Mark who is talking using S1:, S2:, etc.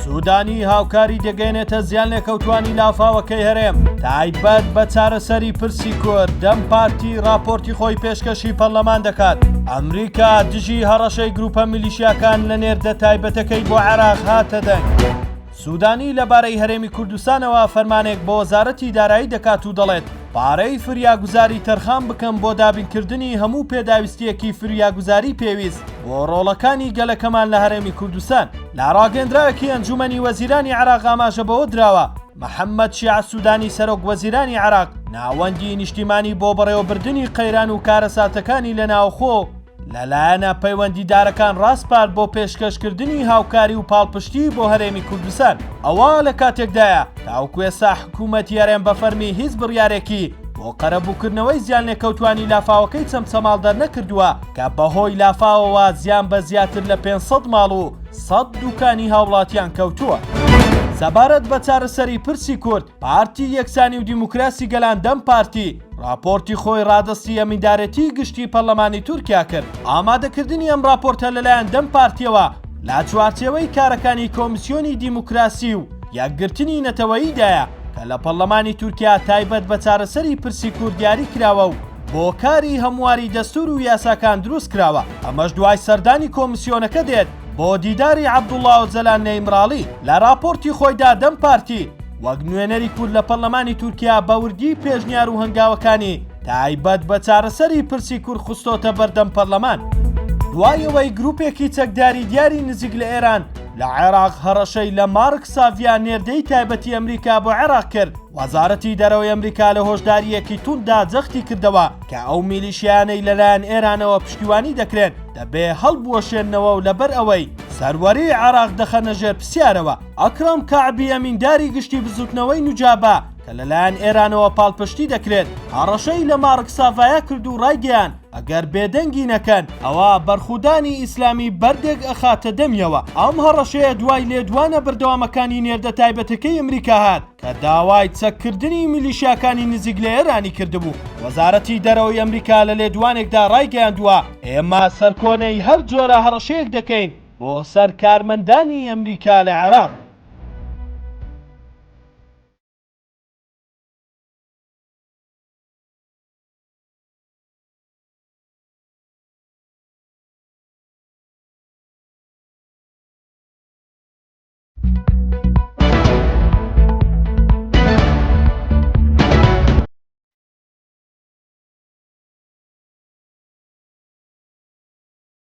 S1: سوودانی هاوکاری دەگەێنێتە زیان لێکەوتانی لافاوەکەی هەرێم تایبەت بە چارەسەری پرسی کورد دەم پارتی راپۆرتی خۆی پێشکەشی پەرلەمان دەکات ئەمریکا دژی هەڕەشەی گروپە میلیشیاکان لە نێردە تایبەتەکەی بۆ عراق هاتە دەنگ. سوودانی لەبارەی هەرێمی کوردستانەوە فەرمانێک بۆ وەزارەتی دارایی دەکات و دەڵێت پارەی فریاگوزاری تەرخان بکەم بۆ دابینکردنی هەموو پێداویستییەکی فریاگوزاری پێویست بۆ ڕۆڵەکانی گەلەکەمان لە هەرێمی کوردستان. لە ڕاگەندراوێکی ئەنجومەنی وەزیرانی عێراق ئاماژە بەوە دراوە، محەمەد شیاع سودانی سەرۆک وەزیرانی عێراق ناوەندی نیشتیمانی بۆ بەڕێوەبردنی قەیران و کارەساتەکانی لە ناوخۆ، لە لایەنە پەیوەندیدارەکان ڕاسپارد بۆ پێشکەشکردنی هاوکاری و پاڵپشتی بۆ هەرێمی کوردستان، ئەوە لە کاتێکدایە تاوەکو ئێستا حکوومەتی هەرێم بە فەرمی هیچ بڕیارێکی بۆ قەرەبووکردنەوەی زیانلێکەوتووانی لافاوەکەی چەمچەماڵ دەرنەکردووە کە بەهۆی لافاوەوە زیان بە زیاتر لە پێنج سەد ماڵ و سەد دووکانی هاوڵاتیان کەوتووە. سەبارەت بە چارەسەری پرسی کورد، پارتی یەکسانی و دیموکراسی گەلان دەم پارتی راپۆرتی خۆی رادەستی ئەمیندارێتیی گشتیی پەرلەمانی تورکیا کرد. ئامادەکردنی ئەم راپۆرتە لەلایەن دەم پارتییەوە لە چوارچێوەی کارەکانی کۆمیسیۆنی دیموکراسی و یەکگرتنی نەتەوەییدایە کە لە پەرلەمانی تورکیا تایبەت بە چارەسەری پرسی کورد دیاریکراوە و بۆ کاری هەمواری دەستوور و یاساکان دروستکراوە. ئەمەش دوای سەردانی کۆمیسیۆنەکە دێت بۆ دیداری عەبدوڵا ئۆجەلان نە ئیمراڵی. لە راپۆرتی خۆیدا دەم پارتی، وەک نوێنەری کورد لە پەرلەمانی تورکیا بەوردی پێشنیار و هەنگاوەکانی تایبەت بە چارەسەری پرسی کورد خستۆتە بەردەم پەرلەمان دوای ئەوەی گروپێکی چەکداری دیاری نزیک لە ئێران لە عێراق هەڕەشەی لە مارک ساڤیا نێردەی تایبەتی ئەمریکا بۆ عێراق کرد وەزارەتی دەرەوەی ئەمریکا لە هۆشداریەکی توندا جەختی کردەوە کە ئەو میلیشیانەی لەلایەن ئێرانەوە پشتیوانی دەکرێن دەبێ هەڵبوەشێنەوە و لەبەر ئەوەی سەروەری عێراق دەخەنە ژێر پرسیارەوە ئەکرەم کەعبی ئەمینداری گشتی بزوتنەوەی نوجابە کە لەلایەن ئێرانەوە پاڵپشتی دەکرێت هەڕەشەی لە مارک ساڤایا کرد و ڕایگەیان ئەگەر بێدەنگی نەکەن ئەوا بەرخودانی ئیسلامی بەردێک ئەخاتە دەمیەوە ئەم هەڕەشەیە دوای لێدوانە بەردەوامەکانی نێردە تایبەتەکەی ئەمریکا هات کە داوای چەککردنی میلیشیاکانی نزیک لە ئێرانی کردبوو وەزارەتی دەرەوەی ئەمریکا لە لێدوانێکدا ڕایگەیاندووە ئێمە سەرکۆنەی هەر جۆرە هەڕەشەیەک دەکەین بۆ سەر کارمەندانی ئەمریکا لە عێراق.